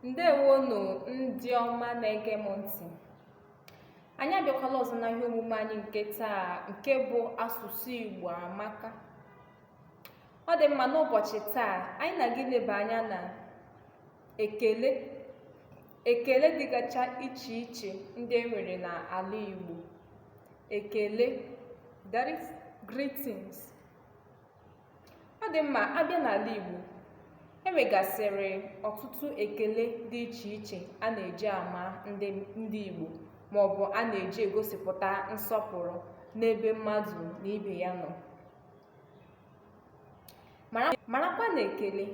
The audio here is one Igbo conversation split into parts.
ndewonu ndị ọma na-ege m ntị anyị abịakwala ọzọ na ihe omume anyị nke taa nke bụ asụsụ igbo amaka ọ dị mma n'ụbọchị taa anyị na-aga ileba anya na ekele ekele dịgacha iche iche ndị e nwere n'ala igbo ekele that is greetings ọ dị mma a bịa n'ala Igbo e nwegasịrị ọtụtụ ekele dị iche iche a na-eji ama ndị ndị Igbo ma ọ bụ a na-eji egosipụta nsọpụrụ n'ebe mmadụ na ibe ya nọ marakwa na ekele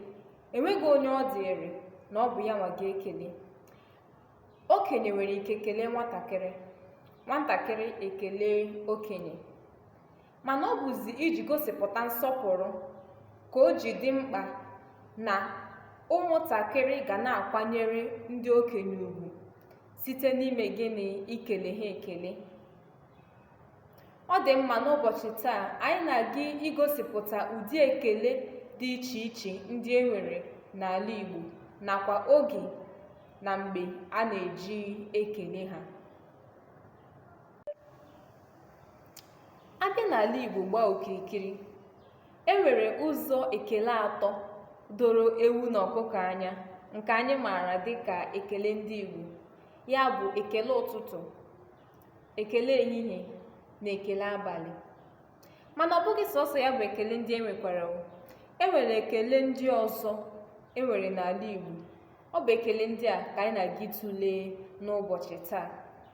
enweghị onye ọ dịrị na ọ bụ ya nwa ga-ekele okenye nwere ike kelee nwatakịrị nwatakịrị ekele okenye mana ọ bụzi iji gosipụta nsọpụrụ ka o ji dị mkpa na ụmụntakịrị ga na-akwanyere ndị okenye ugwu site n'ime gịnị ikele ha ekele ọ dị mma n'ụbọchị taa anyị na-aga igosipụta ụdị ekele dị iche iche ndị e nwere n'ala Igbo nakwa oge na mgbe a na-eji ekele ha a bịa n'ala Igbo gbaa okirikiri e nwere ụzọ ekele atọ doro ewu na ọkụkọ anya nke anyị maara dịka ekele ndị Igbo ya bụ ekele ụtụtụ ekele ehihie na ekele abalị mana ọ bụghị sọsọ ya bụ ekele ndị e nwekwara e nwere ekele ndị ọzọ e nwere n'ala Igbo ọ bụ ekele ndị a ka anyị na-aga ịtụle n'ụbọchị taa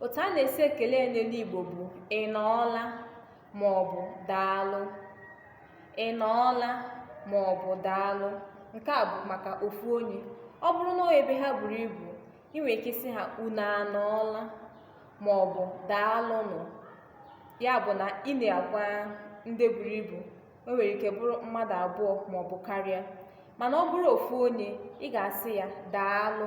otu a na-esi ekele ya n'olu igbo bụ ị nọọla ma ọ bụ daalụ ị nọọla ma ọ bụ daalụ nke a bụ maka ofu onye ọ bụrụ na ebe ha buru ibu ị nwere ike ịsị ha unu anọọla ma ọ bụ daalụnụ ya bụ na ị na-agwa ndị buru ibu o nwere ike bụrụ mmadụ abụọ ma ọ bụ karịa mana ọ bụrụ ofu onye ị ga-asị ya daalụ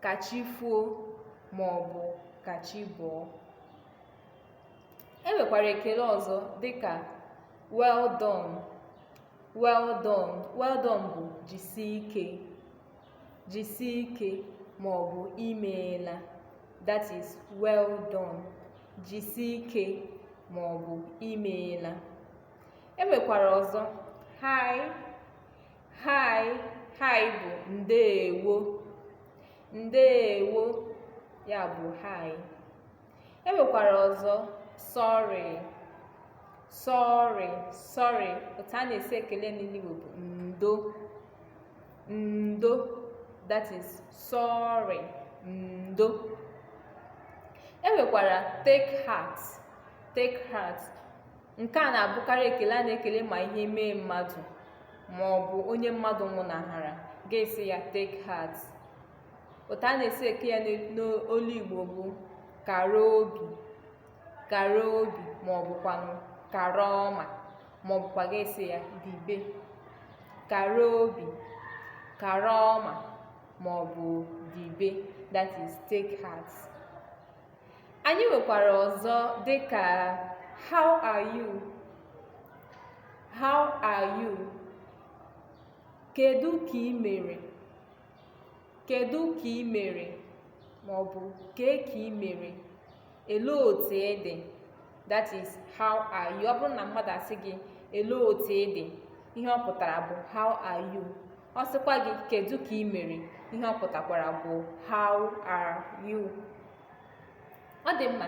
ka chi foo ma ọ bụ ka chi bọọ e nwekwara ekele ọzọ dịka well done well done well done bụ jisie ike jisie ike ma ọ bụ imeela that is well done jisie ike ma ọ bụ imeela e nwekwara ọzọ hi Hi, hi bụ ndeewo. Ndeewo ya bụ hi. E nwekwara ọzọ sorry. Sorry, sorry otu a na-esi ekele n'Igbo bụ ndo. Ndo that is sorry. Ndo. E nwekwara take heart. Take heart nke a na-abụkarị ekele a na-ekele ma ihe mee mmadụ ma ọ bụ onye mmadụ nwụnahara ga-asị ya take heart otu a na-esi eke ya n'olu igbo bụ kara obi kara obi ma ọ bụkwanụ kara ọma ma ọ bụkwa ga-asị ya dibe kara obi kara ọma ma ọ bụ dibe that is take heart Anyị nwekwara ọzọ dị ka how are you? How are you? Kedu ka ị mere? Kedu ka ị mere? Ma ọ bụ kee ka ị mere? Elee otu ị dị? That is how are you? Ọ bụrụ na mmadụ asị gị elee otu ị dị? Ihe ọ pụtara bụ how are you? ọ sịkwa gị kedu ka ị mere ihe ọ pụtakwara bụ how are you ọ dị mma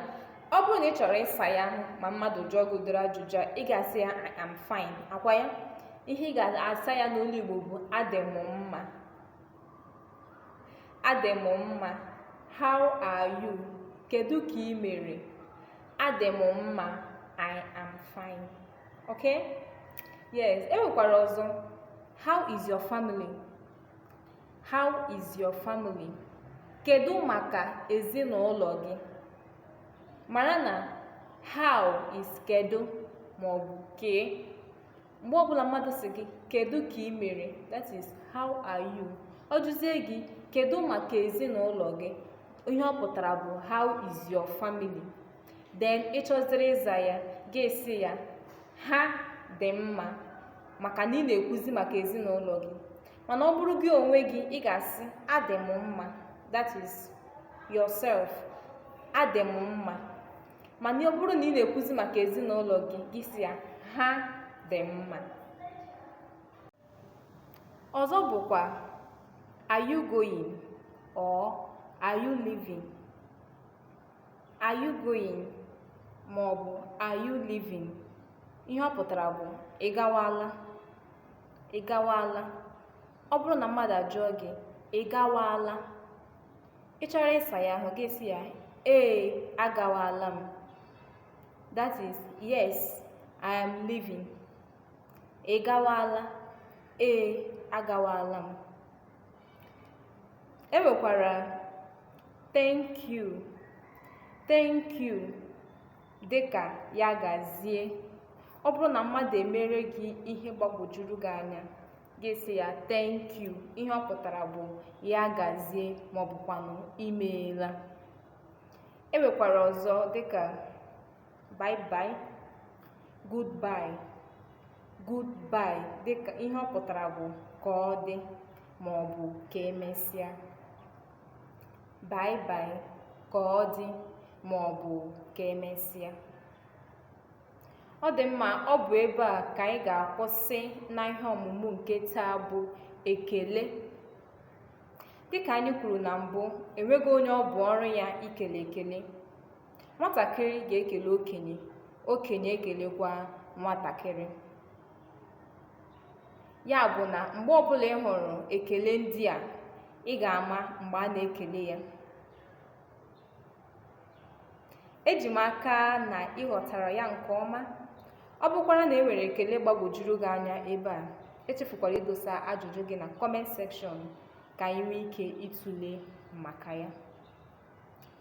ọ bụrụ na ị chọrọ ịsa ya ma mmadụ jụọ gị ụdịrị ajụjụ a ị ga-asị ya I am fine akwa ya ihe ị ga-asa ya n'olu Igbo bụ adị m mma adị m mma how are you kedu ka ị mere adị m mma I am fine okay yes e nwekwara ọzọ how is your family how is your family kedu maka ezinụlọ gị mara na how is kedu ma ọ bụ kee mgbe ọ bụla mmadụ sị gị kedu ka ị mere that is how are you ọ jụzie gị kedu maka ezinụlọ gị ihe ọ pụtara bụ how is your family then ị chọziri ịza ya gị asị ya ha dị mma maka na ị na-ekwuzi maka ezinụlọ gị mana ọ bụrụ gị onwe gị ị ga-asị adị m mma that is yourself adị m mma mana ọ bụrụ na ị na-ekwuzi maka ezinụlọ gị gị sị ya ha dị mma ọzọ bụkwa are you going or are you leaving are you going ma ọ bụ are you leaving ihe ọ pụtara bụ ị gawala ị gawala ọ bụrụ na mmadụ ajụọ gị ị gawala ị chọrọ ịsa ya ahụ gị asị ya ee agawala m that is yes i am leaving ị gawala ee agawala m e nwekwara thank you thank you dịka ya gazie ọ bụrụ na mmadụ emere gị ihe gbagwojuru gị anya gị asị ya thank you ihe ọ pụtara bụ ya gazie maọbụkwanụ imeela e nwekwara ọzọ dịka bye bye goodbye goodbye dịka ihe ọ pụtara bụ ka ọ dị ma ọ bụ ka emesịa bye bye ka ọ dị ma ọ bụ ka emesịa ọ dị mma ọ bụ ebe a ka anyị ga-akwụsị na ihe ọmụmụ nke taa bụ ekele dịka anyị kwuru na mbụ enweghị onye ọ bụ ọrụ ya ikele ekele nwatakịrị ga-ekele okenye okenye ekelekwa nwatakịrị ya bụ na mgbe ọbụla ị hụrụ ekele ndị a ị ga-ama mgbe a na-ekele ya eji m aka na ị ghọtara ya nke ọma ọ bụkwara na e nwere ekele gbagwojuru gị anya ebe a echefukwala idosa ajụjụ gị na comment section ka anyị nwee ike ịtụle maka ya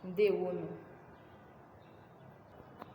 ǹdeèwonù